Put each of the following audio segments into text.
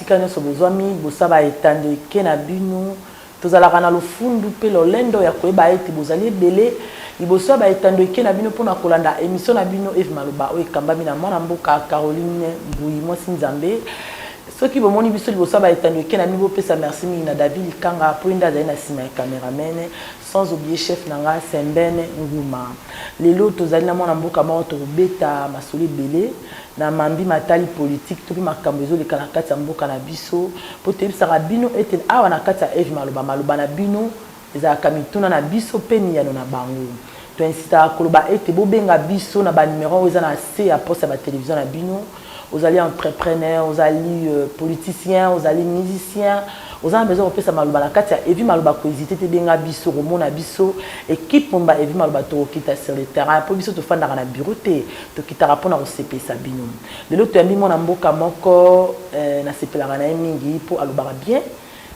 Esika nyonso bozwami, bosaba etando eke na bino. Tozalaka na lofundu mpe lolendo ya koyeba ete bozali ebele liboso ya ba etando eke na bino mpo na kolanda emission na bino Eve Maloba oyo ekambami na mwana mboka Caroline Mbuyi mwasi Nzambe. Soki bomoni biso liboso ya ba etando eke na bino bopesa merci mingi na David Likanga mpo ye nde azali na sima ya cameraman. Sans oublier chef na nga Sembène Nguma. Lelo tozali na mwana mboka moko tokobeta masolo ebele na mambi matali politique to pe makambo ezoleka na kati ya mboka na biso po toyebisaka bino ete awa na kati ya Eve Maloba, maloba na bino ezalaka mituna na biso pe miyano na bango. To insistaka koloba ete bobenga biso na ba numero oyo eza na se ya poste ya ba television na bino. Ozali entrepreneur, ozali politicien, ozali musicien, oza na besoin ya kopesa maloba na kati ya Evi Maloba ko hesiter te benga biso okomona biso equipe mobimba Evi Maloba tokokita sur le terrain po biso tofandaka na bureau te tokitaka pona kosepelisa bino. Lelo toyambi mwana mboka moko eh nasepelaka na ye mingi po alobaka bien,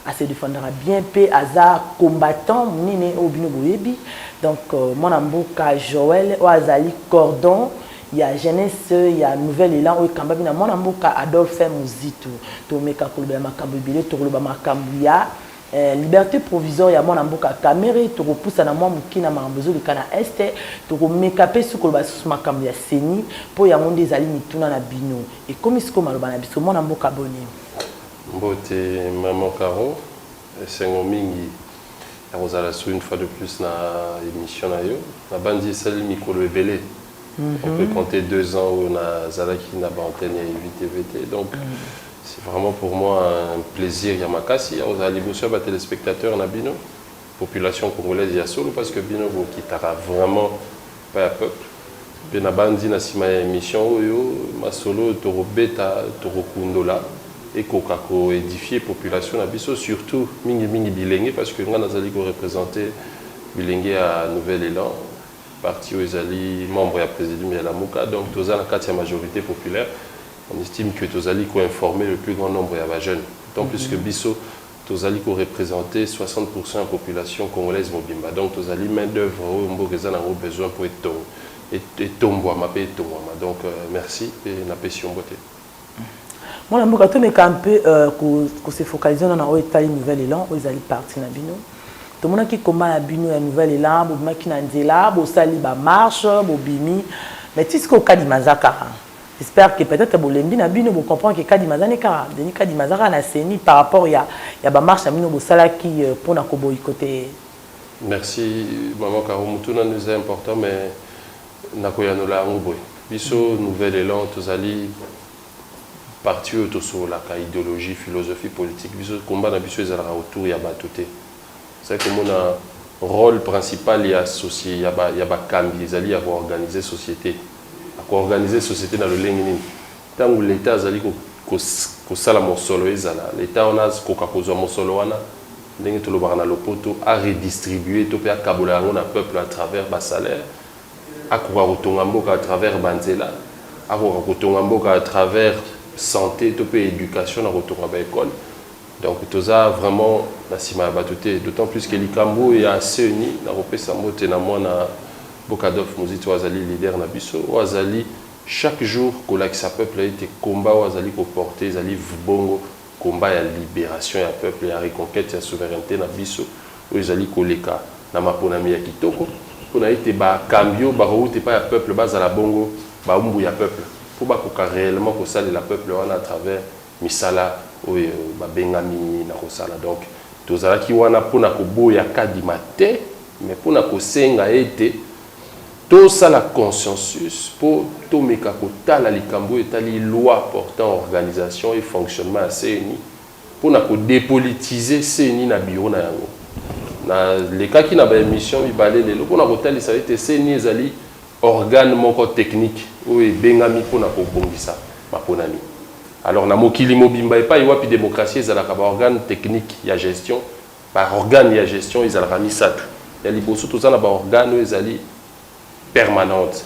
a se defendaka bien pe aza combattant munene oyo bino boyebi donc mwana mboka Joël oyo azali cordon ya jeunesse ya nouvel elan oyo ekambami na mwana mboka Adolphe Muzitu. Tomeka koloba ya makambo ebele, tokoloba makambo ya liberte provisoire ya mwana mboka Kamerhe, tokopusana mwa moke na makambo ezoleka na Est, tokomeka mpe susu koloba lisusu makambo ya ceni mpo yango nde ezali mituna na bino. Ekomi sikoyo maloba na biso. Mwana mboka boni? Mbote maman Caro. Esengo mingi ya kozala sur une fois de plus na emission na yo. Na banzi esali mikolo ebele, on peut compter deux ans oyo na zalaki na ba antennes ya YVTV te donc c'est vraiment pour moi un plaisir ya makasi ya kozala liboso ya ba telespectateurs na bino, population congolaise ya solo parce que bino bo kitaka vraiment Paya peuple pe na banzi na sima ya emission oyo masolo oyo toko beta toko kundola ekoka ko edifier population na biso surtout mingi mingi bilenge parce que nga nazali ko representer bilenge ya nouvel elan parti oyo ezali membre ya presidium ya lamuka donc toza na kati ya majorite populaire on estime que tozali ko informer le plus grand nombre ya ba jeunes d'autant plus que biso Tozali ko representer 60 pourcent ya population congolaise mobimba, donc tozali main d'oeuvre oyo mboka eza na yango besoin mpo etombwama mpe etongwama. Donc, merci mpe napesi yo mbote. Mwana mboka, tomeka un peu ko se focaliser na oyo etali nouvel elan, oyo ezali parti na bino. Tomonaki combat na bino ya nouvel elan, bobimaki na nzela, bosali ba marches, bobimi, mais ti sikoyo Kadima aza kaka. J'espère que peut etre bolembi na bino bo comprendre que kadima aza nde kaka Denis kadima aza kaka na ceni par rapport ya ya ba marche na bino bosalaki pona ko boycotter ye. Merci maman caro motuna no eza important mais nakoyanola yango boye biso nouvel elan tozali parti oyo tosololaka ideologie philosophie politique biso combat na biso ezalaka autour ya bato te ezali komona role principal ya soci ya bakambi ezali ya koorganize société Ako organiser societe na lolenge nini? Tango l'etat azali kosala mosolo ezala l'etat wana akoka kozua mosolo wana ndenge tolobaka na lopoto a redistribuer to pe akabola yango na peuple à travers ba salaires. Akoka kotonga mboka à travers ba nzela, akoka kotonga mboka à travers sante to pe education na kotonga ba ecoles. Donc toza vraiment na sima ya batu te d'autant plus que likambu oyo ya ceni nakopesa mbote na mwana boka Adolphe Muzito oyo azali leader na biso oyo azali chaque jour kolakisa peuple ete combat oyo azali ko porter ezali vbongo combat ya liberation ya peuple ya reconquete ya souverainete na biso oyo ezali koleka na maponami ya kitoko pona ete ba kambi oyo bakowuta epai ya peuple bazala bongo bawumbu ya peuple po bakoka reellement kosalela peuple wana à travers misala oyo babengami na kosala. Donc, tozalaki wana mpo na koboya Kadima te, mais mpo na kosenga ete tosala consensus mpo tomeka kotala likambo oyo etali loi portant organisation et fonctionnement ya CENI mpo na ko depolitiser CENI na bureau na yango. Nalekaki na ba emissions mibale lelo mpo na kotalisa ete CENI ezali. organe moko technique oyo ebengami mpo na kobongisa maponami. Alors, na mokili mobimba epayi wapi democratie ezalaka, ba organes techniques ya gestion, ba organes ya gestion ezalaka misatu. Ya liboso, toza na ba organes oyo ezali permanentes.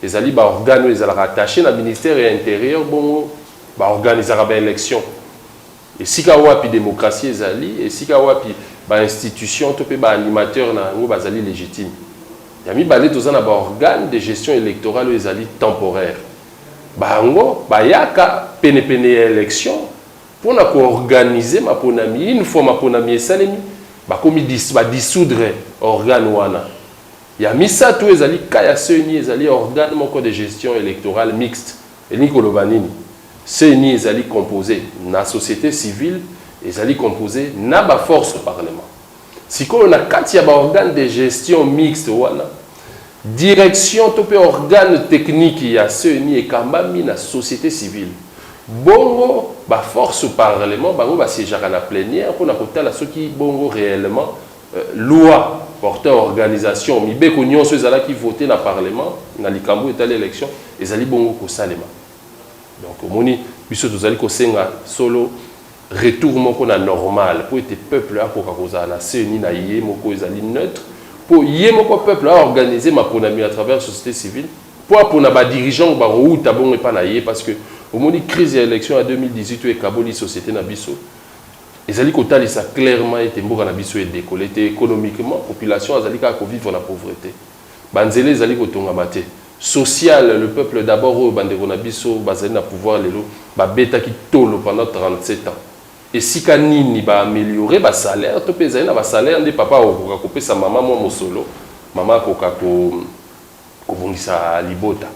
Ezali ba organes oyo ezalaka attaches na ministère ya Interieur, bongo ba organisaka ba elections Esika wapi democratie ezali? Esika wapi ba institutions to pe ba animateurs na yango bazali legitimes? Ya mibale, toza na ba organes de gestion electorale oyo ezali temporaires. Bango bayaka pene pene ya election pona ko organiser maponami. Une fois maponami esalemi, bakomi ba dissoudre organe wana. Ya misato, ezali cas ya CENI, ezali organe moko de gestion electorale mixte. Elingi koloba nini? CENI ezali compose na societe civile, ezali compose na ba forces du parlement. Sikoyo na kati ya ba organes de gestion mixte wana, direction to mpe organe technique ya CENI ekambami na societe civile. Bongo ba forces du parlement bango ba siegeaka na plenière mpo na kotala soki bongo reellement, Loi portant organisation, mibeko nionso ezalaki voter na parlement na likambo oyo etali election ezali bongo kosalema. Donc omoni biso tozali kosenga solo retour moko na normal mpo ete peuple akoka kozala na ceni na ye moko ezali neutre mpo ye moko peuple a organiser maponami à travers societe civile mpo apona ba dirigeants oyo bakowuta bongo epai na ye parce que omoni crise ya election ya 2018 oyo ekaboli societe na biso Ezali kotalisa clairement ete mboka na biso e decoller te economiquement, population azali kaka ko vivre na pauvrete, ba nzela ezali kotongama te, social, le peuple d'abord oyo ba ndeko na biso bazali na pouvoir lelo ba betaki tolo pendant 37 ans, esika nini ba ameliorer ba salaires to pe ezali na ba salaires nde papa akokoka kopesa mama mua mosolo, mama akoka ko. Kobongisa libota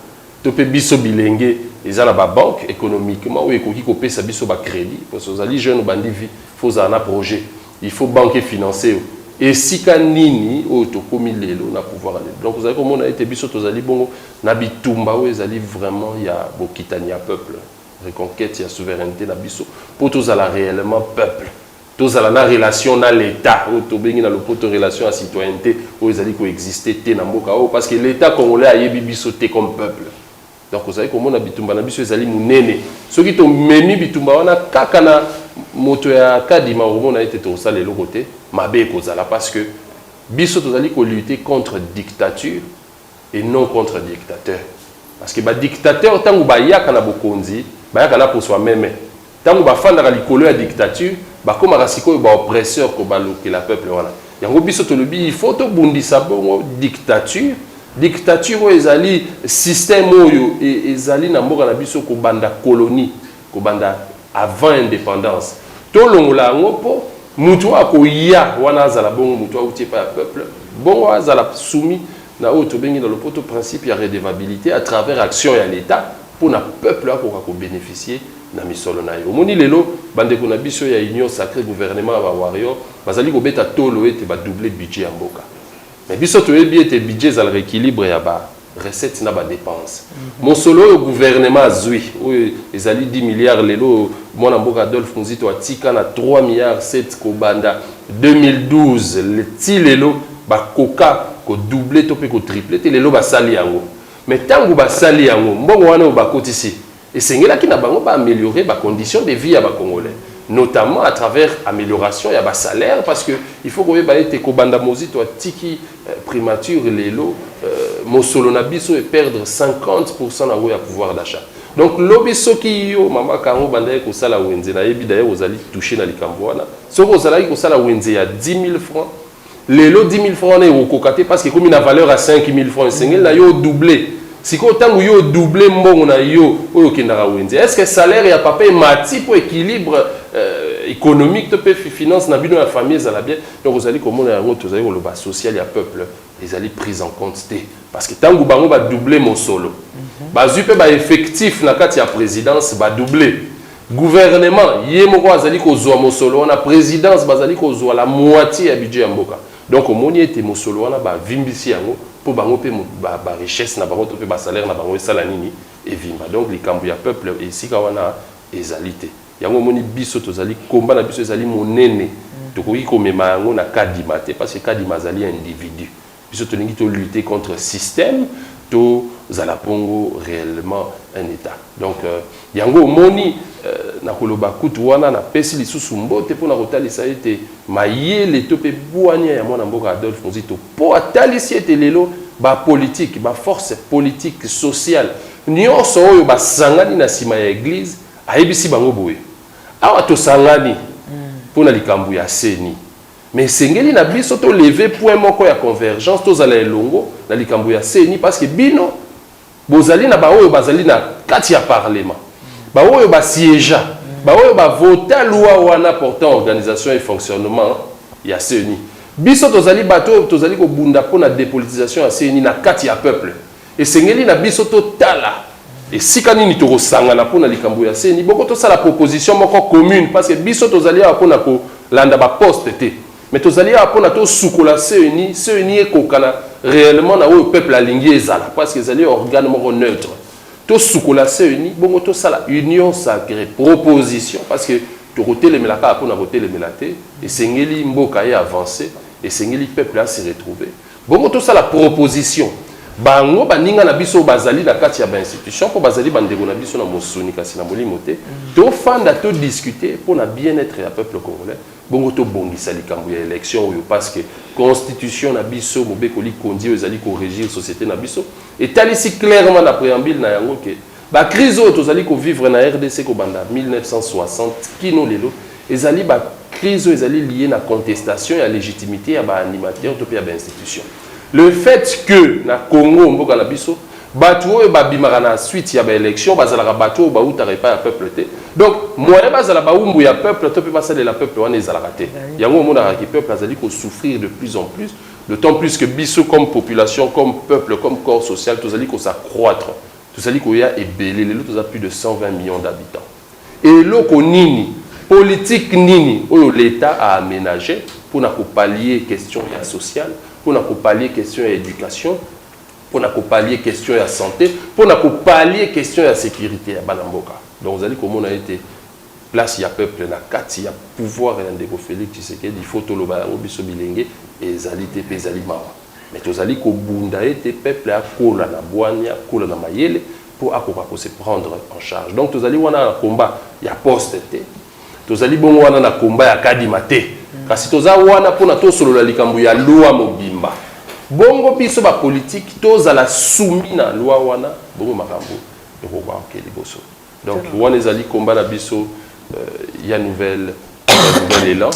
to pe biso bilenge eza na ba banque economiquement oyo ekoki kopesa biso ba credit parce ozali jeune obandi vie faut ozala na projet il faut banque e financer yo esika nini oyo tokomi lelo na pouvoir ya lelo donc ozali komona ete biso tozali bongo na bitumba oyo ezali vraiment ya bokitani ya peuple reconquete ya souverainete na biso po tozala reellement peuple Tozala na relation na l'Etat oyo tobengi na lopoto relation ya citoyennete oyo ezali ko exister te na mboka oyo parce que l'Etat congolais ayebi biso te comme peuple. Donc ozali komona bitumba na biso ezali monene. Soki tomemi bitumba wana kaka na moto ya Kadima okomona ete tokosala eloko te, mabe ekozala parce que biso tozali ko lutter contre dictature et non contre dictateur parce que ba dictateur tangu ba yaka na bokonzi ba yaka na poso ya meme tangu ba fandaka likolo ya dictature ba komaka sikoyo ba oppresseur ko balukela peuple wana yango biso tolobi il faut to bundisa bongo dictature dictature oyo ezali système oyo ezali na mboka na biso ko banda colonie kobanda avant independance tolongola yango po mutu oyo akoya wana azala bongo mutu awuti epai ya peuple bongo azala soumis na oyo tobengi na lopoto principe ya redevabilite à travers action ya l'Etat pona peuple akoka ko beneficier na misolo naye. Omoni lelo bandeko na biso ya union sacree gouvernement ya ba warriors bazali kobeta tolo ete ba doubler budget ya mboka mais biso toyebi ete budget ezalaka equilibre ya ba recettes na ba depenses. Mosolo oyo gouvernement azui oyo ezali 10 milliards lelo oyo mwana mboka Adolphe Muzito atika na 3 milliards 7 kobanda 2012 ti lelo bakoka ko doubler to pe ko tripler te lelo basali yango mais tango basali yango mbongo wana oyo bakotisi Esengelaki na bango ba ameliorer ba conditions de vie ya ba congolais notamment à travers amelioration ya ba salaires parce que il faut koyeba ete kobanda Mozito atiki primature lelo mosolo na biso e perdre 50 pourcent na ngo ya pouvoir d'achat. Donc lobi soki yo mama Caro obandaki kosala wenze, nayebi d'ailleurs ozali toucher na likambo wana, soki ozalaki kosala wenze ya 10.000 francs, Lelo 10 000 francs wana ekokoka te parce que ekomi na valeur ya 5 000 francs. Esengeli na yo o doubler. Sikoyo ntango yo o doubler mbongo na yo oyo okendaka wenze, est-ce que salaire ya papa emati mpo equilibre economique to mpe finance na bino ya famille ezala bien? Donc ozali komona yango tozali koloba social ya peuple ezali prise en compte te parce que ntango bango ba doubler mosolo bazwi mpe ba effectifs na kati ya presidence ba doubler. Gouvernement ye moko azali kozua mosolo wana, presidence bazali kozua la moitie ya budget ya mboka. Donc omoni ete mosolo wana ba vimbisi yango po bango pe ba richesses na bango to pe ba salaires na bango esala nini? Evimba. Donc likambo ya peuple esika wana ezali te. Yango omoni biso tozali combat na biso ezali monene. Tokoki komema yango na Kadima te parce que Kadima azali individu. Biso tolingi to lutter contre système to zala bongo reellement un etat donc yango omoni na koloba kutu wana na pesi lisusu mbote pona kotalisa ete mayele to pe buania ya muana mboka Adolphe Muzito po atalisi ete lelo ba politique ba force politique sociale nionso oyo ba sangani na sima ya eglise ayebisi bango boye awa tosangani pona likambo ya ceni. Mais esengeli na biso to lever point moko ya convergence, tozala elongo na likambo ya ceni parce que bino bozali na baoyo bazali na kati ya parlement, baoyo ba siegea, baoyo ba vota loi wana portant organisation et fonctionnement ya ceni. Biso tozali bato oyo tozali kobunda mpo na depolitisation ya ceni na kati ya peuple. Esengeli na biso totala esika nini tokosangana mpo na likambo ya ceni. Boko tosala proposition moko commune parce que biso tozali awa mpo na kolanda ba poste te mais tozali awa mpo na tosukola ceni, ceni ekokana reellement na oyo peuple alingi ezala parce que ezali organe moko neutre. Tosukola ceni bongo tosala union sacree, proposition parce que tokotelemela kaka mpo na kotelemela te, esengeli mboka e avancer, esengeli peuple a se retrouver. Bongo tosala proposition, bango baninga na biso oyo bazali na kati ya ba institutions, mpo bazali bandeko na biso na mosuni kasi na molimo te, tofanda to discuter mpo na bien etre ya peuple congolais, bongo tobongisa likambo ya election oyo parce que constitution na biso, mobeko likonzi oyo ezali ko regir societe na biso, etalisi clairement na preambule na yango que, Ba crise oyo tozali ko vivre na rdc kobanda 1960 kino lelo ezali ba crise oyo ezali lie na contestation ya legitimite ya ba animateur to pe ya ba institution. Le fait que na Congo mboka na biso batu oyo ba bimaka na suite ya ba election bazalaka batu oyo bawutaka epai ya peuple te donc moyen bazala bawumbu ya peuple to pe basalela peuple wana ezalaka te. Yango omonaka ke peuple azali ko souffrir de plus en plus d'autant plus que biso comme population, comme peuple, comme corps social tozali ko s'accroitre. Tozali koya ebele lelo toza plus de 120 millions d'habitants eloko nini politique nini oyo l'etat a amenage pona ko pallier question ya social pona ko pallier question ya education pona ko pallier question ya sante pona ko pallier question ya securite ya bana mboka donc ozali komona ete place ya peuple na kati ya pouvoir ya ndeko Felix Tshisekedi il faut toloba yango biso bilenge ezali te pe ezali mawa. Mais tozali kobunda ete peuple akola na bwanya, akola na mayele mpo akoka ko se prendre en charge. Donc tozali wana na combat ya poste te, tozali bongo wana na combat ya Kadima te, kasi toza wana mpo na tosolola likambo ya loi mobimba. Bongo biso ba politiques tozala soumis na loi wana, bongo makambo ekokoka kokende liboso. Donc wana ezali combat na biso ya nouvelle nouvel elan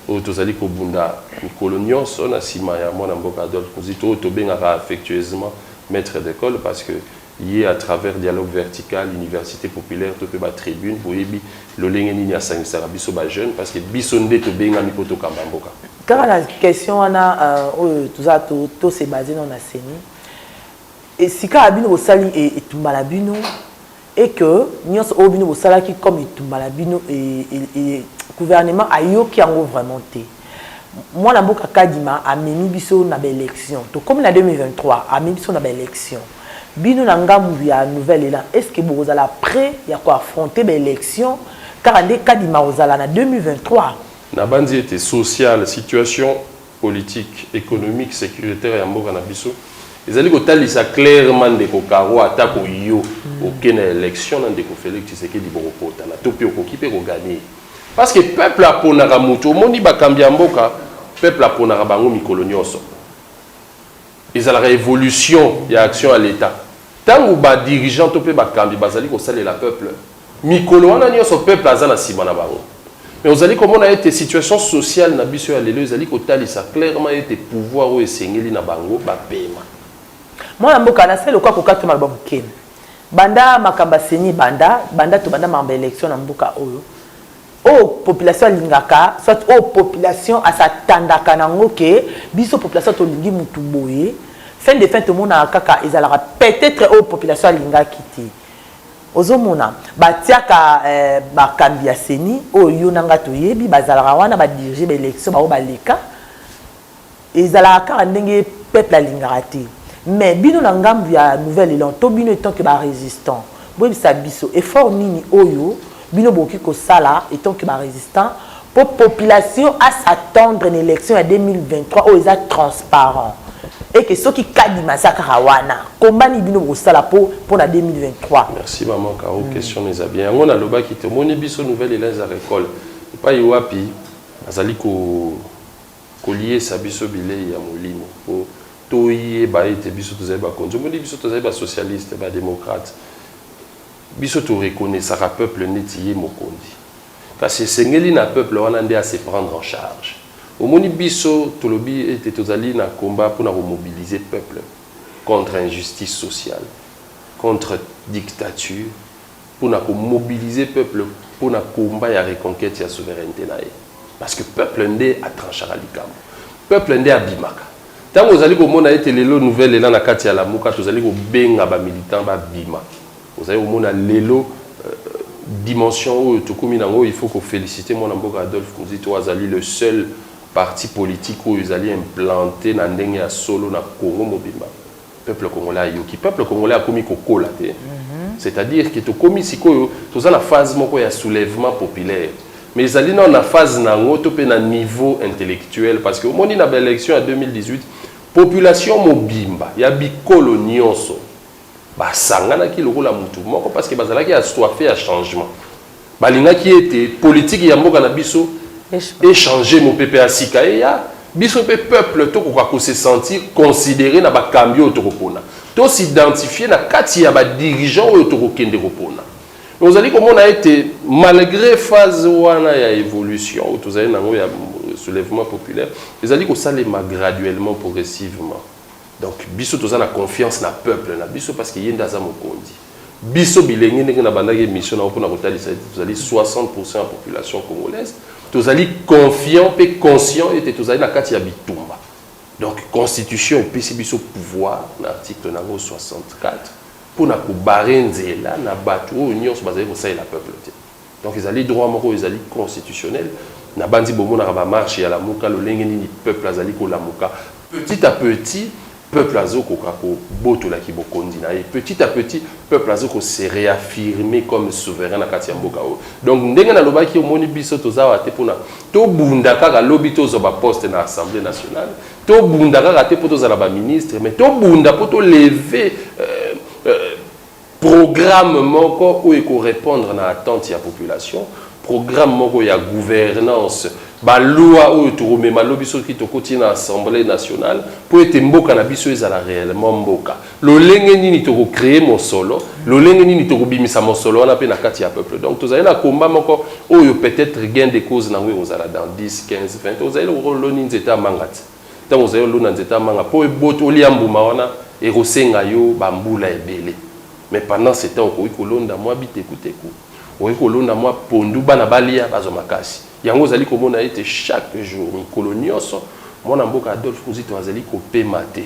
oyo tozali kobunda mikolo nyonso na nsima ya mwana mboka Adolphe Muzito oyo tobengaka affectueusement maître d'école parce que ye à travers dialogue vertical université populaire to mpe ba tribune boyebi lolenge nini asangisaka biso ba jeune parce que biso nde tobengami mpo tokamba mboka kaka na question wana euh, oyo toza tose base nao na seni Et sikawa bino bosali e, etumba na bino, et que nyonso oyo bino bosalaki comme etumba na bino, e, e, e, gouvernement ayoki yango vraiment te. Mwana mboka Kadima amemi biso na ba elections. Tokomi na 2023, amemi biso na ba elections. Bino na ngambu ya Nouvel Elan, est-ce que bokozala pret ya ko affronter ba elections kaka nde Kadima akozala na 2023? Nabanzi ete social, situation. politique, economique, securitaire ya mboka na biso ezali kotalisa clairement ndeko Caro atako yo oke na election na ndeko Felix Tshisekedi bokopotana to mpe okoki mpe koganye parce que peuple aponaka moto omoni bakambi ya mboka peuple aponaka bango mikolo nyonso Ezalaka evolution ya action ya l'Etat. Tango ba dirigeants to pe bakambi bazali kosalela peuple, mikolo wana nionso peuple aza na sima na bango. Mais ozali komona ete situation sociale na biso ya lelo ezali kotalisa clairement ete pouvoir oyo esengeli na bango bapema. Mwana mboka, nasali lokola kokata maloba moke. Banda makambo ya ceni ebanda, banda tobanda makambo ya election na mboka oyo, oyo population alingaka soit oyo population a s'attendaka na yango que biso population tolingi mutu boye, fin de fin tomonaka kaka ezalaka peut etre oyo population alingaki te. Ozo mona? Ba tiaka ba kambi ya ceni oyo yo na nga toyebi, bazalaka wana ba diriger ba elections bango baleka, Ezalaka kaka ndenge peuple alingaka te mais bino na ngambu ya nouvel elan to bino etant que ba resistant boyebisa biso effort nini oyo bino bokoki kosala etant que ba resistant po population a s'attendre na election ya 2023 oyo eza transparent et que soki kadima aza kaka wana combat nini bino bokosala po pona 2023. Merci maman Caro question na eza bien yango na lobaki tomoni biso nouvel elan eza recole epayi wapi bazali ko Koliesa biso bilei ya molimo mpo toyeba ete biso tozali bakonzi. Omoni biso tozali ba socialistes, ba democrates. Biso to reconnaissaka peuple neti ye mokonzi. Kasi esengeli na peuple wana nde a se prendre en charge. Omoni biso tolobi ete tozali na combat mpo na ko mobiliser peuple contre injustice sociale, contre dictature, pona ko mobiliser peuple pona combat ya reconquete ya souverainete na ye parce que peuple nde a tranchaka likambo, peuple nde abimaka. Tango ozali komona ete lelo nouvel elan na kati ya lamuka tozali kobenga ba militants babima, ozali komona lelo dimension oyo tokomi na yango, il faut ko feliciter mwana mboka Adolphe Muzito oyo azali le seul parti politique oyo ezali implante na ndenge ya solo na Congo mobimba. peuple congolais ayoki peuple congolais akomi kokola te c'est-à-dire que tokomi sikoyo toza na phase moko ya soulèvement populaire mais ezali nao na phase na yango to mpe na niveau intellectuel parce que omoni na baélection ya 2018 population mobimba ya bikolo nyonso basanganaki lokola mutu moko parce que bazalaki assoife ya changement Balingaki ete politiki ya mboka na biso e changer, mopepe ya sika eya, biso mpe peuple tokoka ko se sentir considerer na bakambi oyo tokopona. To s'identifier na kati ya ba dirigeants oyo tokokende kopona. Mais ozali komona ete malgre phase wana ya evolution oyo tozali na yango ya soulevement populaire, ezali kosalema graduellement, progressivement. Donc biso toza na confiance na peuple na biso parce que ye nde aza mokonzi. Biso bilenge ndenge na bandaki emission nao pona kotalisa ete tozali 60 pourcent ya population congolaise tozali confiant pe conscient ete tozali na kati ya bitumba donc constitution epesi biso pouvoir na article nango 64 pona ko barrer nzela na batu oyo nionso bazali kosalela peuple te. Donc ezali droit moko oyo ezali constitutionnel. Nabanzi bomonaka ba marches ya Lamuka, lolenge nini peuple azali kolamuka. Petit à petit, peuple azo koka kobotola ki bokonzi na ye. Petit à petit, peuple azo ko se reaffirmer comme souverain na kati ya mboka oyo. Donc ndenge nalobaki, omoni biso toza awa te pona tobunda kaka lobi tozwa ba postes na Assemblee nationale, tobunda kaka te po tozala ba ministres, mais tobunda po to lever Programme moko oyo eko repondre na attente ya population, programme moko ya gouvernance, ba lois oyo toko mema lobi soki tokoti na assemblee nationale mpo ete mboka na biso ezala reellement mboka. Lolenge nini toko creer mosolo, lolenge nini toko bimisa mosolo wana mpe na kati ya peuple. Donc tozali na combat moko oyo peut-etre gain de cause na yango ekozala dans 10, 15, 20 ozali lokola oloni nzete ya manga tse. Ntango ozali olona nzete ya manga, mpo ebota, olia mbuma wana, ekosenga yo bambula ebele. Mais pendant ce temps, okoki kolonda mwa bitekuteku, okoki kolonda mwa pondu, bana balia, bazwa makasi. Yango ozali komona ete chaque jour, mikolo nionso, mwana mboka Adolphe Muzito azali kopema te.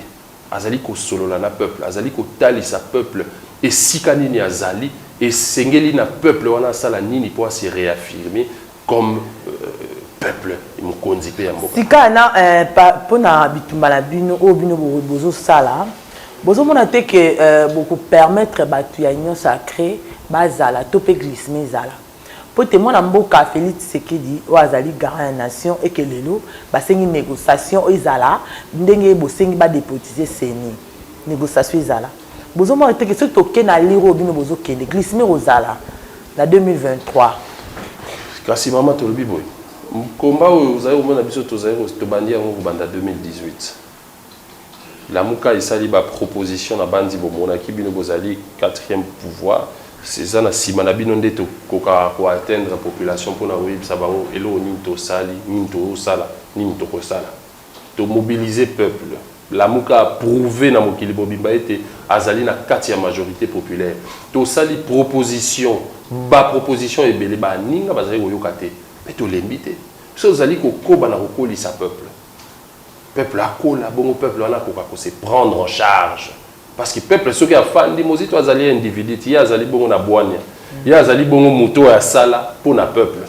Azali kosolola na peuple, azali kotalisa peuple esika nini azali, esengeli na peuple wana asala nini mpo a se reaffirmer, comme peuple mokonzi pe ya mboka. Sika na pona bitumba na bino oyo bino bozo sala bozo mona te que boko permettre batu ya union sacre ba zala to pe glissement ezala? Po te mwana mboka Felix Tshisekedi oyo azali garant ya nation et que lelo ba sengi negociation ezala ndenge bosengi ba depotiser ceni. Negociation ezala. Bozo mona te que soki toke na allure oyo bino bozo kende, glissement eko zala na 2023. Kasi mama tolobi boye, combat oyo ozali komona biso tozali tobandi yango kobanda 2018. Lamuka esali ba propositions na banzi bomonaki bino bozali quatrième pouvoir. Eza na sima na bino nde tokokaka ko atteindre population pona koyebisa bango eloko nini tosali, nini tozosala, nini tokosala. To mobiliser peuple. Lamuka a prouver na mokili mobimba ete azali na kati ya majorite populaire. Tosali proposition, ba propositions ebele, ba ninga bazali koyoka te. Mais tolembi te. Biso tozali kokoba na kokolisa peuple. Peuple akola, bongo peuple wana akoka ko se prendre en charge. Parce que peuple soki afandi, Mozito azali individu te, ye azali bongo na bwania. Ye azali bongo moto oyo asala mpo na peuple.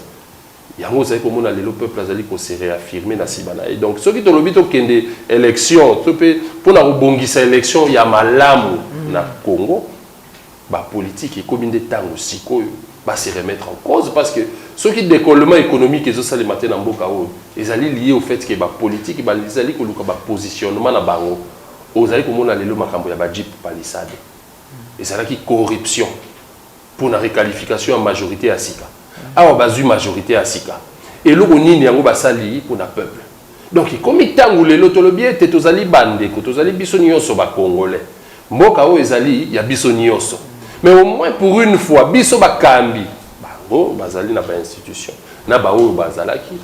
Yango ozali komona lelo peuple azali ko se reaffirmer na sima na ye. Donc soki tolobi tokende election to mpe mpo na kobongisa election ya malamu na Congo, ba politiques ekomi nde ntango sikoyo ba se remettre en cause parce que soki decollement economique ezosalema te na mboka oyo ezali lier au fait que ba politiques bazali koluka ba positionnement na bango. Ozali komona lelo makambo ya ba jeep palissade. Ezalaki corruption. mpo na requalification ya majorite ya sika awa bazwi majorite ya sika eloko nini yango basali mpo na peuple donc ekomi ntango lelo tolobi ete tozali bandeko tozali biso nyonso bacongolais mboka oyo ezali ya biso nyonso mais au moins pour une fois biso bakambi bango bazali na bainstitution na baoyo bazalaki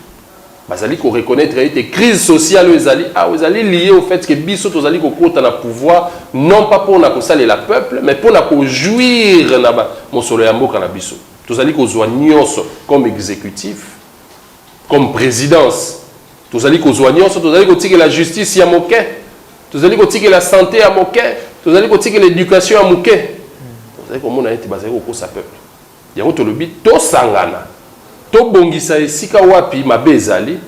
Bazali ko reconnaitre ete crise sociale oyo ezali awa ezali liee au fait que biso tozali kokota na pouvoir non pas pona kosalela peuple mais pona ko jouir na ba mosolo ya mboka na biso. Tozali kozua nionso comme executif, comme presidence tozali kozua nionso, tozali kotikela justice ya moke, tozali kotikela sante ya moke, tozali kotikela education ya moke. Tozali komona ete bazali kokosa peuple. Yango tolobi tosangana, tobongisa esika wapi mabe ezali,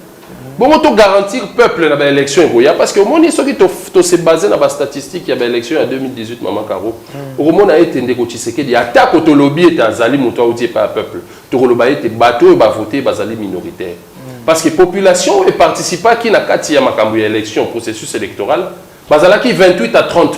bongo to garantir peuple na ba elections ekoya parce que omoni soki to, to se baser na ba statistiques ya ba elections ya 2018 mama Caro, mm. okomona ete ndeko Tshisekedi atako tolobi ete azali moto auti epai ya peuple, tokoloba ete bato oyo bavote bazali minoritaire mm. parce que population oyo eparticipaki na kati ya makambo ya election processus électoral bazalaki 28 à 30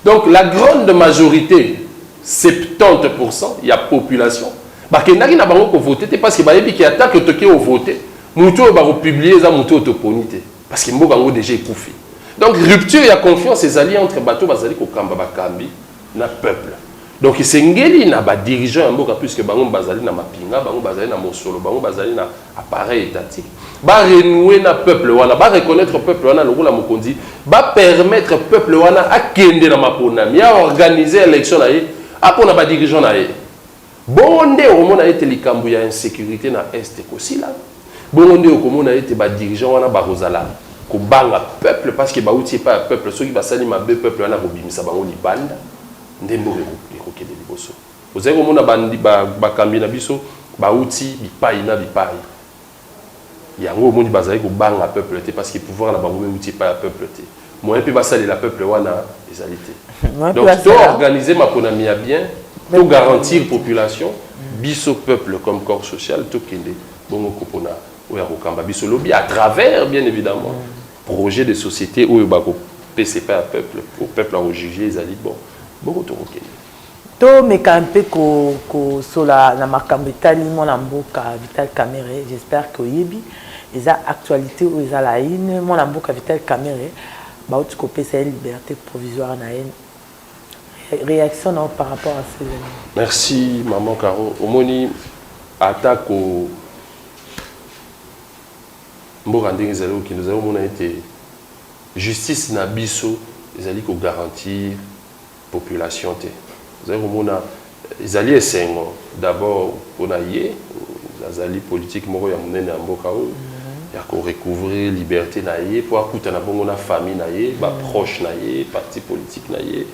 Donc la grande majorite 70 pour cent ya population bakendaki na bango kovote te parce que bayebi ke ata ke toke ovote moto oyo bakopublie eza moto oyo toponi te parce que mboka yango deja ekufi donc rupture ya confiance ezali entre bato bazali kokamba bakambi na peuple donc esengeli na badirigeant ya mboka puisque bango bazali na mapinga bango bazali na mosolo bango bazali na appareil etantique ba renouer na peuple wana ba reconnaitre peuple wana lokola mokonzi ba permettre peuple wana akende na maponami a organiser election na ye apona ba dirigeants na ye bongo nde okomona ete likambo ya insecurite na est ekosila bongo nde okomona ete ba dirigeants wana bakozala kobanga peuple parce que bauti epai ya peuple soki basali mabe peuple wana akobimisa bango libanda nde mboka ekokende liboso Ozali komona bakambi na biso bawuti bipayi na bipayi, yango omoni bazali kobanga peuple te, parce que pouvoir na bango ewuti epayi ya peuple te, moyen mpe basalela peuple wana ezali te. Donc to organiser maponami ya bien, to garantir population, biso peuple comme corps social tokende bongo kopona oyo akokamba biso lobi à travers bien evidemment projet de societe oyo bakopesa epayi ya peuple, oyo peuple ako juger ezali bon, bongo tokokende. To meka mpe ko ko sola na makambo etali mwana mboka Vital Kamerhe, j'espère que oyebi eza actualite oyo eza la une, mwana mboka Vital Kamerhe ba wuti ko pesa ye liberte provisoire na ye reaction na yo par rapport à ce evenement? Merci maman Caro, omoni ata ko mboka ndenge ezali ko kende ozali ko mona ete justice na biso ezali ko garantir population te ozali komona ezali esengo d'abord pona ye azali politique moko ya munene ya mboka oyo ya ko recouvrir liberte na ye po akutana bongo na famille na ye ba proche na ye parti politique na ye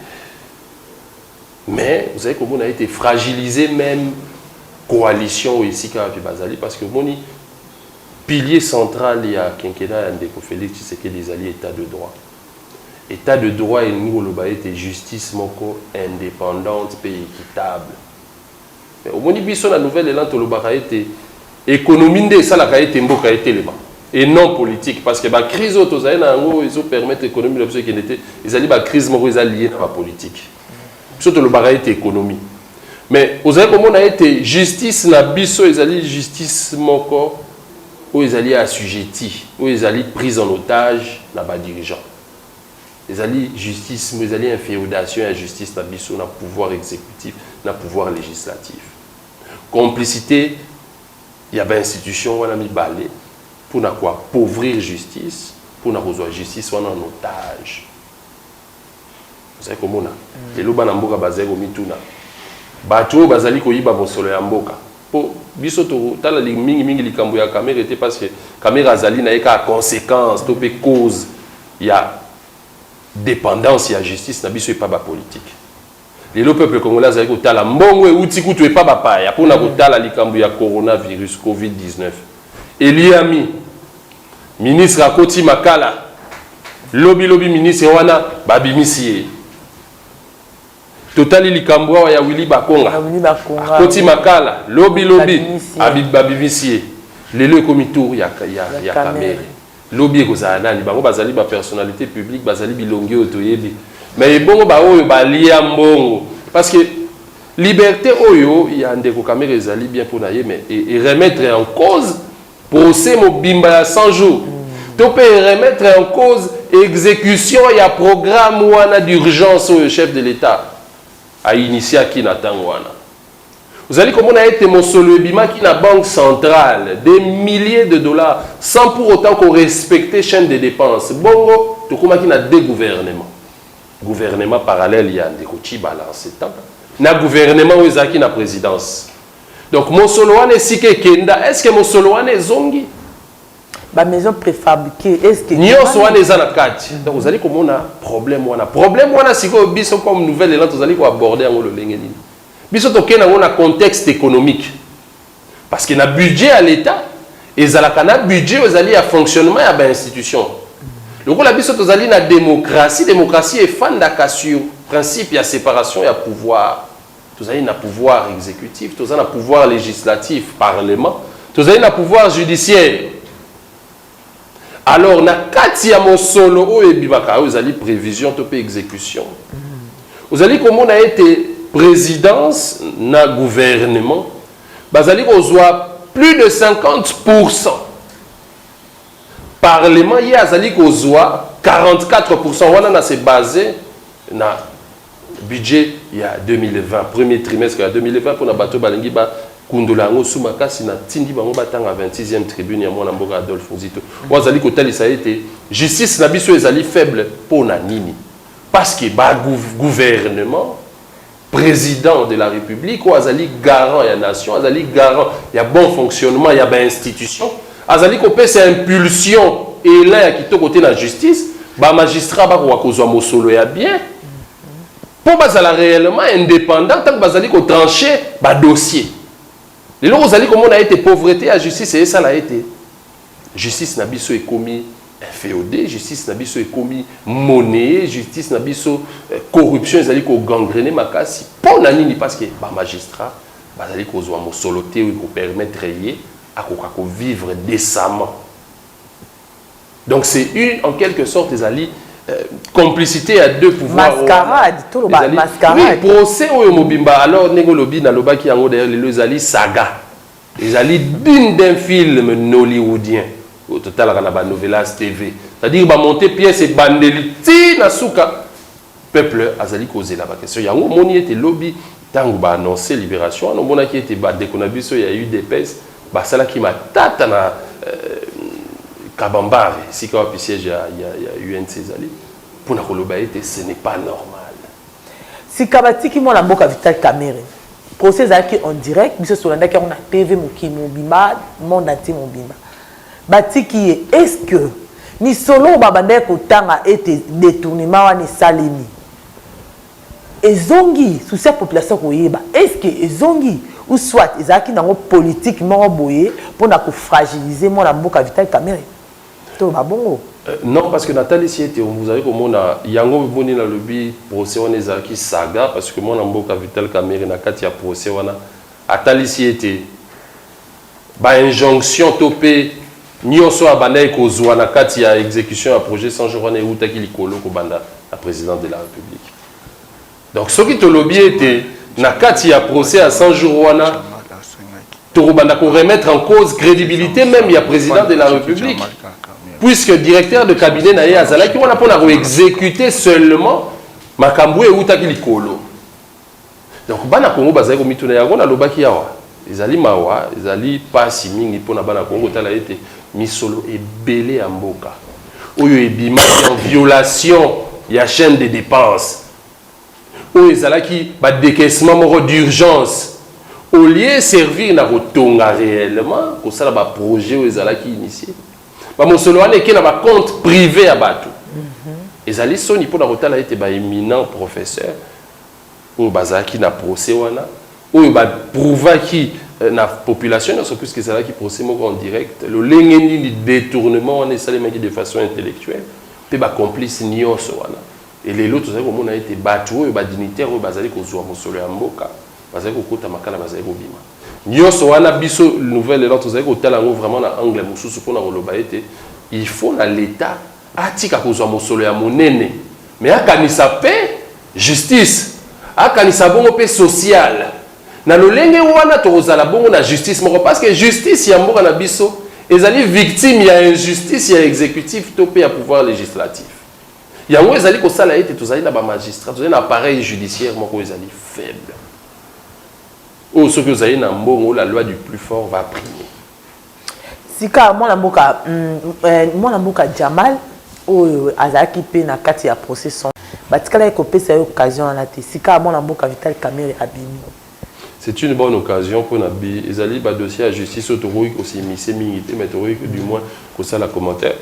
mais ozali komona ete fragiliser meme coalition oyo esika wapi bazali parce que omoni pilier central ya quinquennat ya ndeko Felix Tshisekedi ezali etat de droit Etat de droit elingi koloba ete justice moko independante mpe equitable. Mais omoni biso na nouvel elan tolobaka ete economie nde esalaka ete mboka etelema et non politique parce que ba crise oyo tozali na yango oyo ezo permettre economie na biso ekende te ezali ba crise moko eza lie na ba politique. Biso tolobaka ete economie mais ozali komona ete justice na biso ezali justice moko Oyo ezali assujetti, oyo ezali prise en otage na ba dirigeants. Ezali justice mais ezali infeodation ya justice na biso na pouvoir executif na pouvoir legislatif. Complicite ya ba institutions wana mibale pona ko appauvrir justice pona kozua justice wana en otage. Ozali komona? Lelo bana mboka bazali komituna, bato oyo bazali koyiba mosolo ya mboka, po biso totala mingi mingi likambo ya Kamere te parce que Kamere azali na ye kaka consequence to pe cause ya dependance ya justice na biso epa ba politiques. Lelo peuple congolais azali kotala mbongo ewuti kutu epa ba paya pona kotala likambo ya corona virus covid 19 eliami ministre akoti makala lobi lobi ministre wana ba bimisi ye totali likambo awa ya Willy Bakonga akoti makala lobi lobi ba bimisi ye lelo ekomi tour ya ya kamere Lobi ekozala nani? Bango bazali ba personnalites publiques, bazali bilongi oyo toyebi. Mais ebongo ba oyo balia mbongo? Parce que liberte oyo ya ndeko Kamerhe ezali bien pona ye mais e remettre en cause procès mobimba ya 100 jours to pe e remettre en cause execution ya programme wana d'urgence oyo chef de l'Etat a initiaki na tango wana. Ozali komona ete mosolo ebimaki na banque centrale, des milliers de dollars, sans pour autant ko respecter chaine de depenses. Bongo, tokomaki na deux gouvernements. Gouvernement parallèle ya ndeko Tshibala en ce temps, na gouvernement oyo ezalaki na presidence. Donc, mosolo wana esika ekenda, est-ce que mosolo wana ezongi? ba maison prefabrique eske nyoso wana eza na kati donc ozali komona problème wana problème wana sikoyo biso comme nouvelle elan tozali ko aborder yango lolenge nini biso tokei nango na contexte économique parce que na budget ya l'état ezalaka na budget oyo ezali ya fonctionnement ya ba institution lokola biso tozali na démocratie démocratie efandaka sur principe ya séparation ya pouvoir Tozali na pouvoir executif, toza na pouvoir legislatif, parlement, tozali na pouvoir judiciaire. Alors na kati ya mosolo oyo ebimaka oyo ezali prevision to pe execution. Ozali komona ete présidence na gouvernement bazali kozwa plus de 50%. Parlement ye azali kozwa 44%. Wana na se base na Budget ya 2020, premier trimestre ya 2020 pona bato oyo balingi ba kundola yango su makasi, na tindi bango ba tanga 26ème tribune ya muana mboka Adolphe Nzito oyo azali ko talisa ete justice na biso ezali faible pona nini? Parce que ba gouvernement, president de la republique oyo azali garant ya nation, azali garant ya bon fonctionnement ya ba institutions, Azali kopesa impulsion, elan ya kitoko te na justice. Ba magistrats bakoka kozwa mosolo ya bien mpo bazala reellement independants ntango bazali ko trancher ba dossiers. Lelo ozali komona ete pauvrete ya justice esala ete justice na biso ekomi infeodee, justice na biso ekomi monneyer, justice na biso corruption ezali ko gangrener makasi. Mpo na nini? Parce que ba magistrats bazali kozwa mosolo te oyo eko permettre ye akoka ko vivre decemment donc c'est une en quelque sorte ezali euh, complicité ya deux pouvoirs mascarade tout le monde mascarade oui procès oyo mobimba alors ndenge olobi nalobaki yango d'ailleurs lelo ezali saga ezali digne d'un film nollywoodien oyo totalaka na banovelas tv c'est-à-dire bamonte pièce ebandeli ti na suka Peuple azali kozela ba question yango omoni ete lobi tango ba annonce liberation wana omonaki ete ba ndeko na biso ya udps basalaki matata na kabambare esika wapi siège ya ya UNC ezali pona koloba ete ce n'est pas normal. Sika batiki mwana mboka Vital Kamerhe. Procès ezalaki en direct, biso tolandaki yango na TV mokili mobimba, monde entier mobimba. Batiki ye est ce que lisolo oyo babandaki kotanga ete detournement wana esalemi ezongi? Souci ya population koyeba est ce que ezongi ou soit ezalaki nango politique moko boye pona ko fragiliser mwana mboka Vital Kamerhe? Toloba bongo. Non parce que natalisi ete ozali komona yango omoni nalobi procès wana ezalaki saga parce que mwana mboka Vital Kamerhe na kati ya procès wana atalisi ete Ba injonctions to mpe nionso oyo abandaki kozua na kati ya execution ya projet 100 jours wana ewutaki likolo kobanda na President de la Republique. Donc soki tolobi ete na kati ya procès ya 100 jours wana tokobanda ko remettre en cause credibilite meme ya President de la Republique puisque directeur de cabinet na ye azalaki wana mpo na ko executer seulement makambo oyo ewutaki likolo. Donc bana Congo bazali komituna yango nalobaki awa ezali mawa ezali pasi mingi pona bana Congo kotala ete misolo ebele ya mboka oyo ebimaki en violation ya chaine de depense oyo ezalaki ba decaissement moko d'urgence au lieu servir na kotonga reellement kosala ba projet oyo ezalaki initie ba mosolo wana eke na ba compte prive ya batu ezali soni pona kotala ete ba eminent professeur oyo bazalaki na procès wana oyo ba prouvaki na population nionso puisque ezalaki procès moko en direct lolenge nini detournement wana esalemaki de façon intellectuelle mpe ba complices nionso wana et lelo tozali komona ete batu oyo ba dignitaires oyo bazali kozua mosolo ya mboka bazali kokota makala bazali kobima nionso wana biso Nouvelle Elan tozali kotala yango vraiment na angle mosusu mpo na koloba ete il faut na l'Etat Atika kozwa mosolo ya monene mais akanisa mpe justice, akanisa bongo mpe social. Na lolenge wana tokozala bongo na justice moko parce que justice ya mboka na biso ezali victime ya injustice ya executif to mpe ya pouvoir legislatif. Yango ezali kosala ete tozali na ba magistrats, tozali na appareil judiciaire moko ezali faible. Oyo soki ozali na mbongo la loi du plus fort va primer. Sika mwana mboka mwana mboka Jamal oyo azalaki mpe na kati ya procès sombre batikalaki kopesa ye occasion wana te sika mwana mboka Vital Kamerhe abimi. C'est une bonne occasion mpo na bi ezali ba dossiers ya justice oyo tokoki ko s'immiscer mingi te mais tokoki que du moins kosala commentaire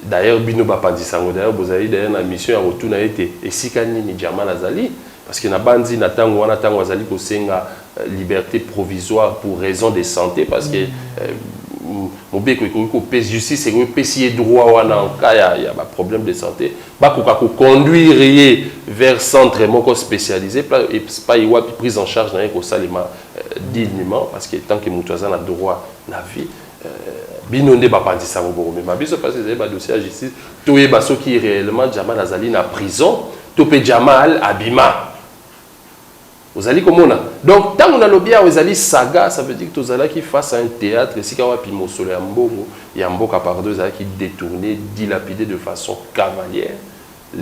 d'ailleurs bino bapanzi sango d'ailleurs bozali d'ailleurs na mission ya kotuna ete esika nini Jamal azali Parce que nabanzi na tango wana tango azali kosenga liberte provisoire pour raison de sante parce que mobeko ekoki kopesa justice ekoki kopesi ye droit wana en cas ya, ya ba problème de sante bakoka koconduire ye vers centre moko spécialisé epai wapi prise en charge na ye ekosalema dignement parce que tant que moto aza na droit na vie Bino nde bapanzi sango bokomema biso pasi ezali ba dossier ya justice toyeba soki reellement jamal azali na prison to pe jamal abima ozali komona donc tango na lobi awa ezali saga ça veut dire tozalaki face à un theatre esika wapi mosolo ya mbongo ya mboka pardon ezalaki detourne dilapide de façon cavaliere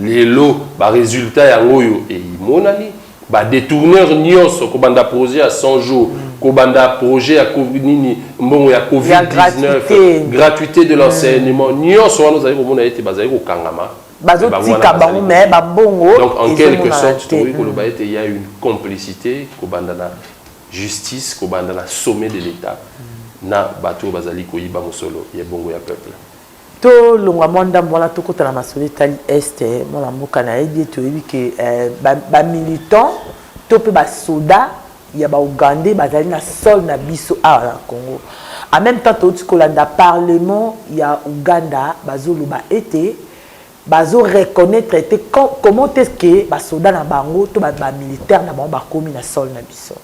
Lelo ba resultats yango oyo emonani, ba detourneurs nionso kobanda projet ya 100 jours, kobanda projet ya covid nini, mbongo ya covid 19, gratuite de l'enseignement, nionso wana ozali komona ete bazali kokangama, mais bango wana bazali koya. Donc en quelque sorte tokoki koloba ete il ya une complicite kobanda na justice, kobanda na sommet de l'Etat na batu oyo bazali koyiba mosolo ya ebongo ya peuple. To longwa mwa ndambo wana to kota na masolo etali Est, mwana mboka na yebi ete oyebi ke ba militants to pe ba soda ya ba Ougandais ba zali na sol na biso awa na Congo. En meme temps to uti ko landa parlement ya Ouganda ba zo loba ete ba zo reconnaitre te comment est ce que ba soda na bango to ba militaires na bango ba komi na sol na biso?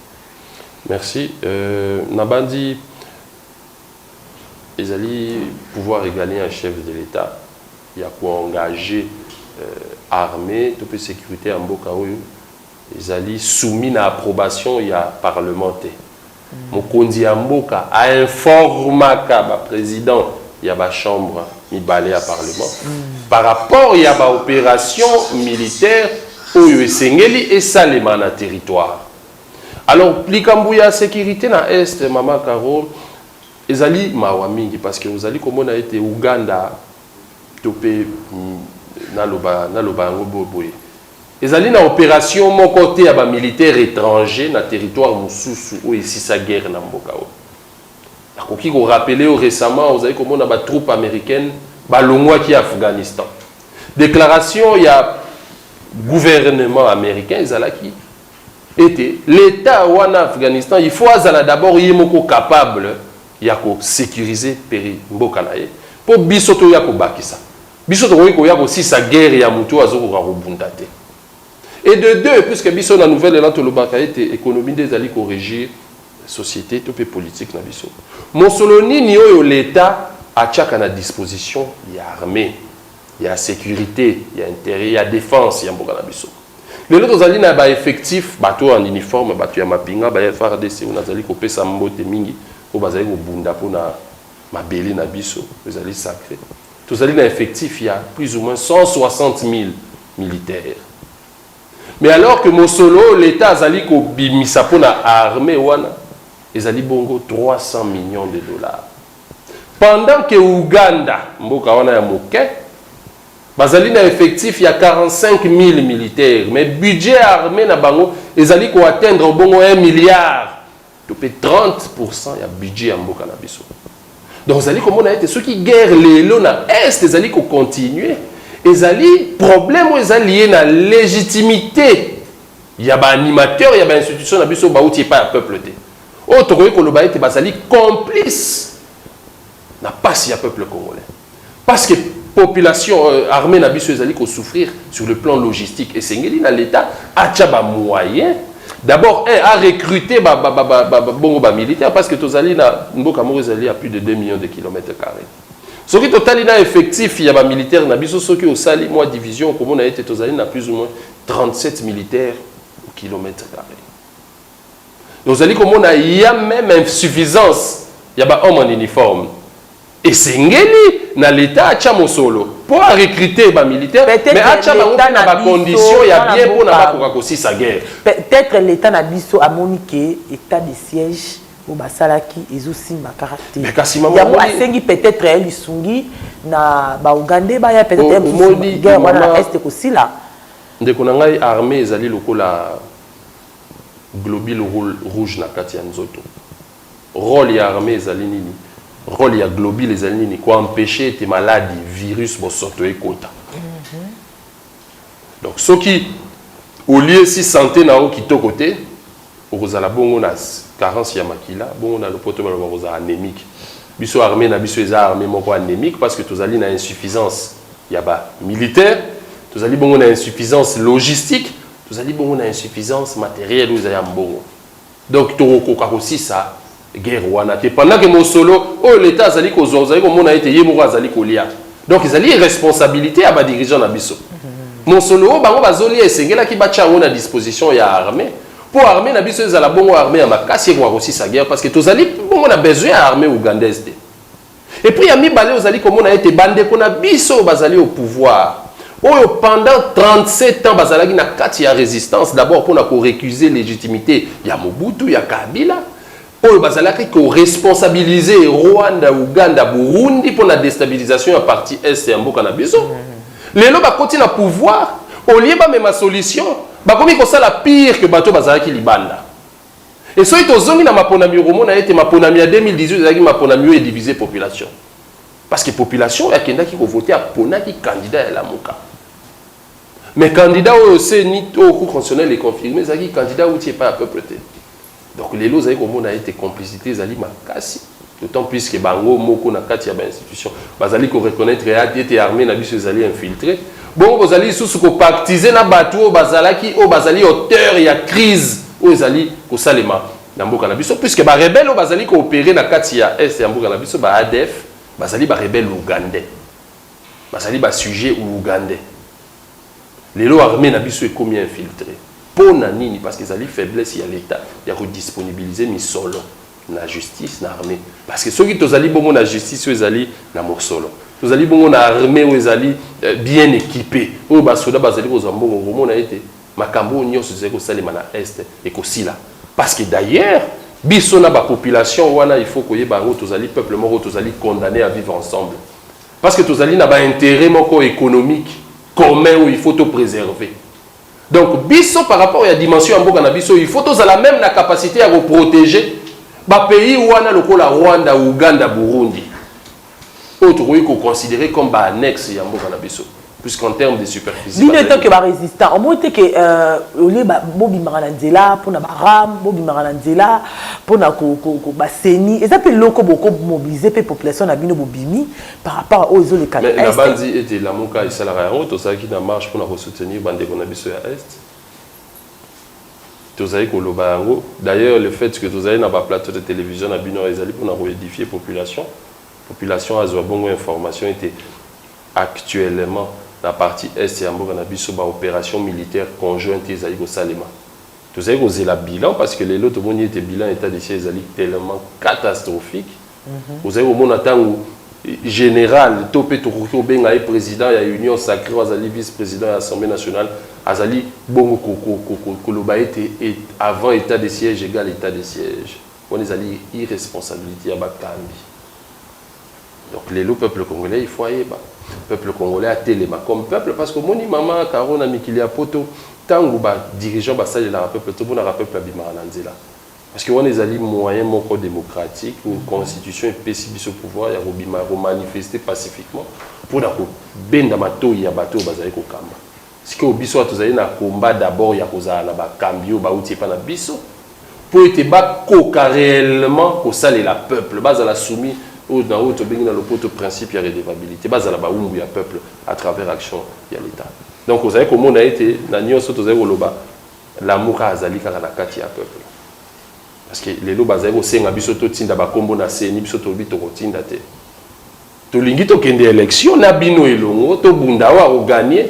Merci. Euh, na banzi Ezali pouvoir regalien ya chef de l'Etat ya ko engager armee to mpe securite ya mboka oyo ezali soumis na approbation ya parlement te. Mokonzi ya mboka a informaka ba presidents ya ba chambres mibale ya parlement par rapport ya ba operations militaires oyo esengeli esalema na territoire. Alors likambo ya securite na Est maman Caro ezali mawa mingi parce que ozali komona ete Ouganda to mpe naloba naloba yango boye boye ezali na operation moko te ya ba militaire étranger na territoire mosusu oyo esisa guerre na mboka oyo nakoki korapele yo récemment ozali komona ba troupe américaine balongwaki Afghanistan déclaration ya gouvernement américain ezalaki ete l'etat wana Afghanistan il faut azala d'abord ye moko capable ya ko securiser peri mboka na ye mpo biso toya kobakisa. Biso tokoki koya kosilisa guerre ya moto oyo azo koka kobunda te. Et de deux, puisque biso na Nouvel Elan tolobaka ete economie nde ezali ko regir societe to mpe politique na biso, mosolo nini oyo l'etat atiaka na disposition ya armee? ya securite, ya interieur, ya defense ya mboka na biso. Lelo tozali na ba effectifs, bato oyo en uniforme, bato ya mapinga, ba FARDC oyo nazali kopesa mbote mingi, oyo bazali kobunda mpo na mabele na biso, ezali sacre. Tozali na effectif ya plus ou moins 160.000 militaires. Mais alors que mosolo oyo l'Etat azali kobimisa mpo na armee wana, ezali bongo 300 millions de dollars. Pendant que Ouganda, mboka wana ya moke, bazali na effectif ya 45.000 militaires, mais budget ya armee na bango ezali ko atteindre obongo un milliard to mpe 30 pour cent ya budget ya mboka na biso. Donc ozali komona ete soki guerre lelo na Est ezali ko continuer, ezali problème oyo eza lie na legitimite ya ba animateurs ya ba institutions na biso bawuti epai ya peuple te. oyo tokoki koloba ete bazali complice na pasi ya peuple congolais parce que population euh, armée na biso ezali ko souffrir sur le plan logistique esengeli na l'État acha ba moyens d'abord un a recruter ba, ba, ba, ba, ba, bongo ba militaires parce que tozali na mboka moko ezali à plus de 2 millions de kilomètres carrés soki totali na effectif ya ba militaires na biso soki osali moi division okomona ete tozali na plus ou moins 37 militaires au kilomètre carré Ozali komona il ya meme insuffisance ya ba hommes en uniforme. Esengeli na l'etat atia mosolo po a recruter ba militaires mais atia bango pe na ba conditions ya bien pona bakoka kosisa guerre. Peut etre l'etat na biso amoni que etat de siège oyo basalaki ezo simba kaka te. Mais kasi maman yango asengi peut etre ye lisungi na ba ougandais baya peut etre guerre wana na est ekosila. Ndeko na ngai armee ezali lokola Globule rouge na kati ya nzoto. Role ya armee ezali nini? Role ya globule ezali nini? Ko empecher ete maladi, virus, bosoto ekota. Donc soki oliesi sante na yo kitoko te, okozala bongo na carence ya makila, bongo na lopoto balobaka kozala anemique. Biso armee na biso eza armee moko anemique parce que tozali na insuffisance ya ba militaires, tozali bongo na insuffisance logistique, Tozali bongo na insuffisance materielle oyo ezali ya mbongo. Donc tokokoka kosisa guerre wana te pendant que mosolo oyo l'Etat azali kozwa ozali komona ete ye moko azali kolia. Donc ezali irresponsabilite ya ba dirigeants na biso. Mosolo oyo bango bazolia esengelaki batia yango na disposition ya armee mpo armee na biso ezala bongo armee ya makasi ekoka kosisa guerre parce que tozali bongo na besoin ya armee ougandaise te. Et puis ya mibale ozali komona ete bandeko na biso oyo bazali au pouvoir oyo pendant 37 ans bazalaki na kati ya resistance d'abord mpona ko recuser legitimite ya Mobutu ya Kabila oyo bazalaki ko responsabiliser Rwanda, Ouganda, Burundi mpo na destabilisation ya partie est ya mboka na biso. Lelo bakoti na pouvoir, au lieu bamema solution, bakomi kosala pire que bato bazalaki libanda. Et soki tozongi na maponami okomona ete maponami ya 2018 ezalaki maponami oyo edivise population. Parce que population oyo akendaki kovote aponaki candidat ya Lamuka. Mais candidat oyo CENI oyo Cour constitutionnelle econfirme ezalaki candidat outi epai ya peuple te. Donc lelo ozali komona ete complicité ezali makasi. D'autant plus que bango moko na kati ya ba institutions bazali ko reconnaitre ete armee na biso ezali infiltree. Bongo bozali lisusu ko pactiser na batu oyo bazalaki, oyo bazali auteurs ya crise oyo ezali kosalema na mboka na biso puisque ba rebelles oyo bazali ko operer na kati ya Est ya mboka na biso, ba adf, bazali ba rebelles ougandais. Bazali ba sujets ougandais. Lelo armee na biso ekomi infiltree. Pona nini? Parce que ezali faiblesse ya l'Etat ya ko disponibiliser misolo. na justice na armee parce que soki tozali bongo na justice oyo ezali na mosolo tozali bongo na armee oyo ezali euh, bien équipe oyo basoda bazali kozwa mbongo okomona ete makambo oyo nyonso ezali kosalema na est ekosila parce que d'ailleurs biso na bapopulation wana il faut koyeba yango tozali peuple moko tozali condamné à vivre ensemble parce que tozali na baintérêt moko économique commun oyo il faut topréserver Donc biso par rapport ya dimension ya mboka na biso il faut tozala meme na capacite ya ko proteger ba pays wana lokola Rwanda, Ouganda, Burundi oyo tokoki ko considerer comme ba annexe ya mboka na biso puisqu'en termes de superficie bino etant que ba résistant omoni te que euh, olie bobimaka na nzela mpo na baram bobimaka na nzela mpo na baseni eza mpe loko bokomobilize mpe population na bino bobimi par rapport à oyo ezoleka na est nabanzi ete lamuka esalaka yango tozalaki na marche mpona kosoutenir bandeko na biso ya est tozali koloba yango d'ailleurs le fait que tozali na baplateau de télévision na bino ezali mpona koedifie population population azwa bongo information ete actuellement na partie est ya mboka na biso baopération militaire conjointe ezali kosalema tozali kozela bilan parce que lelo tomoni ete bilan état de siège ezali tellement catastrophique Ozali komona tango General to mpe tokoki kobenga ye president ya union sacree oyo azali vice president ya Assemblee nationale azali bongo koloba ete avant etat de siège egale etat de siège? Wana ezali irresponsabilite ya bakambi. Donc lelo peuple congolais il faut ayeba. Peuple congolais atelema comme peuple parce que omoni mama Caro na mikili ya poto tango ba dirigeants basalelaka peuple te omonaka peuple abimaka na nzela. Parce que wana ezali moyen moko democratique ou constitution epesi biso pouvoir ya kobima ya ko manifester pacifiquement pona ko benda matoyi ya bato oyo bazali ko kamba. Sikoyo biso awa tozali na combat d'abord ya kozala na bakambi oyo bawuti epai na biso mpo ete bakoka reellement kosalela peuple, bazala soumis oyo na oyo tobengi na lopoto principe ya redevabilite, bazala bawumbu ya peuple à travers action ya l'Etat. Donc ozali komona ete na nionso oyo tozali koloba, Lamuka azali kaka na kati ya peuple parce que lelo bazali kosenga biso totinda ba kombo na ceni biso tolobi tokotinda te tolingi tokende election na bino elongo tobunda oyo ako gagne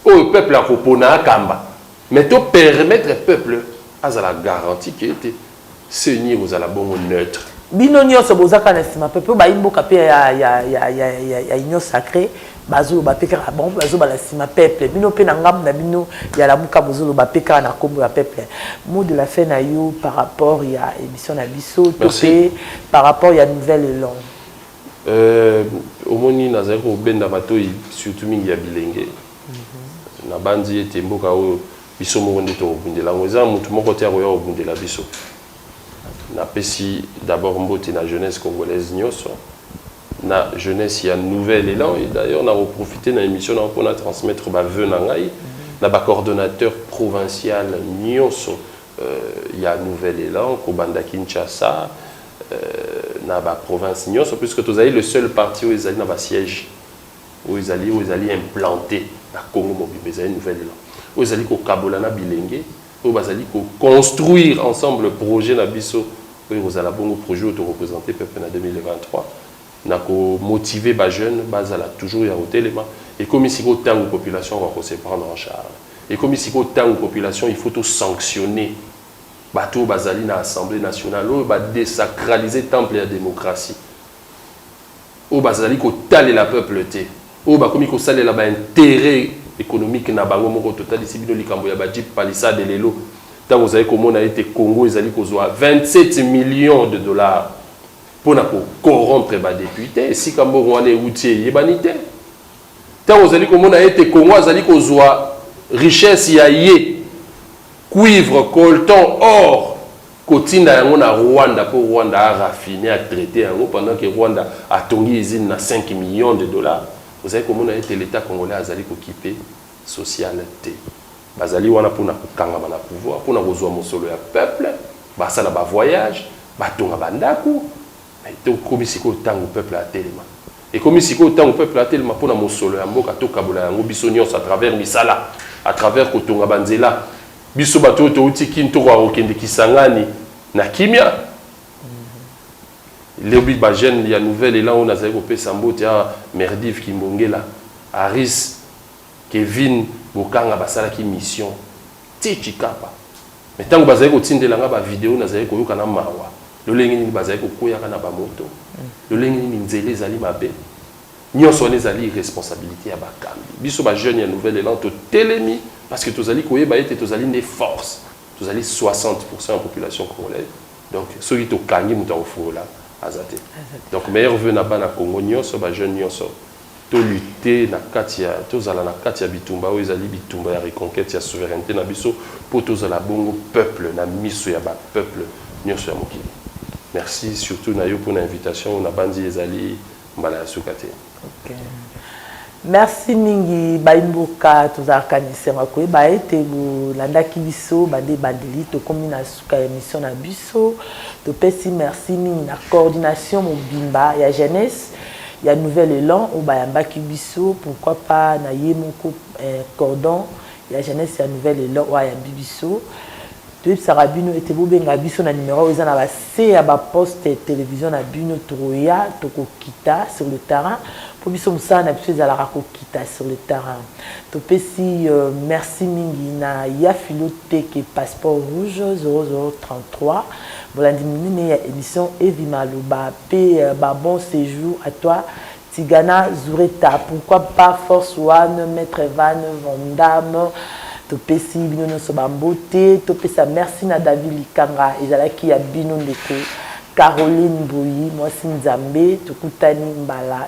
oyo peuple akopona akamba mais to permettre peuple azala garanti ke ete Ce nie kozala bongo neutre. Bino nioso boza kaka na sima pe po bayi mboka pe ya ya ya ya ya ya union sacree bazo loba pe kaka bon bazo bala sima peuple bino pe na ngambu na bino ya lamuka bozo loba pe kaka na kombo ya peuple mot de la fin na yo par rapport ya emission na biso to pe par rapport ya nouvelle elan euh omoni nazali ko benda matoyi surtout mingi ya bilenge mm -hmm. na banzi ete mboka oyo Biso moko nde tokobundela yango. Eza mutu moko te akoya kobundela biso. Napesi d'abord mbote na jeunesse congolaise nioso, na jeunesse ya nouvel elan et d'ailleurs nako profiter na emission na yo po na transmettre ba voeux na ngai na ba coordonnateurs provincial nioso ya nouvel elan kobanda Kinshasa na ba provinces nioso puisque tozali le seul parti oyo ezali na ba sièges Oyo ezali oyo ezali implante na Congo mobimba, ezali nouvelle elan oyo ezali kokabola na bilenge oyo bazali ko construire ensemble projet na biso oyo ekozala bongo projet oyo toko presenter peuple na 2023 na ko motiver ba jeunes bazala toujours ya kotelema. Ekomi sikoyo tango population akoka ko se prendre en charge, ekomi sikoyo tango population il faut to sanctionner batu oyo bazali na Assemblee nationale oyo ba desacraliser temple ya democratie. oyo bazali kotalela peuple te, oyo bakomi kosalela ba interet economique na bango moko, totalisi bino likambo ya ba jeep palissade lelo, tango ozali komona ete Congo ezali kozua 27 millions de dollars pona ko corrompre ba deputes, esika mbongo wana ewuti eyebani te, tango ozali komona ete Congo azali kozua richesse ya ye, cuivre, coltan, or, Kotinda yango na Rwanda po Rwanda a raffiner, a traiter yango pendant que Rwanda atongi usine na cinq millions de dollars. Ozali komona ete l'Etat congolais azali kokipe social te. Bazali wana po na kokangama na pouvoir, po na kozua mosolo ya peuple, basala ba voyages, batonga ba ndaku, Mais to komi sikoyo tango peuple a telema. Ekomi sikoyo tango peuple a telema pona mosolo ya mboka to kabola yango biso nionso à travers misala, à travers ko tonga ba nzela. Biso batu oyo to wuti kin to koka ko kende Kisangani na kimia. Lobi ba jeunes ya nouvel elan oyo na zali ko pesa mbote awa, Merdive Kimbongela, Aris, Kevin Bokanga ba salaki mission. Tii Tshikapa. Mais tango bazali kotindela nga ba video nazali koyoka na mawa. Lolenge nini bazali kokueyaka na ba moto? Lolenge nini nzela ezali mabe? Nionso wana ezali irresponsabilite ya bakambi. Biso ba jeunes ya nouvel elan totelemi parce que tozali koyeba ete tozali nde force. Tozali 60 pourcent ya population congolaise. Donc soki tokangi moto ya kofungola aza te. Donc meilleurs voeux na bana Congo nionso, ba jeunes nionso To lutter na kati ya, tozala na kati ya bitumba oyo ezali bitumba ya reconquete ya souverainete na biso mpo tozala bongo peuple na miso ya ba peuples nionso ya mokili. Merci surtout na yo mpo na invitation oyo, nabanzi ezali mbala ya suka te. Ok. Merci mingi bayi mboka, tozalaka na esengo ya koyeba ete bolandaki biso banda ebandeli. Tokomi na suka ya emission na biso. Topesi merci mingi na coordination mobimba ya Jeunesse ya nouvel elan oyo bayambaki biso pourquoi pas na ye moko cordon ya jeunesse ya nouvel elan oyo ayambi biso toyebisaka bino ete bobenga biso na numero oyo eza na base ya ba poste television na bino tokoya tokokita sur le terrain mpo biso mosala na biso ezalaka kokita sur le terrain topesi merci mingi na ya philo teke passeport rouge 0033 molandi monene ya emission evi maloba pe ba bon sejour à toi Tigana zureta pourquoi pas force one maitre van vandamme topesi bino nionso ba mbote topesa merci na David likanga ezalaki ya bino ndeko Caroline mbuyi mwasi nzambe tokutani mbala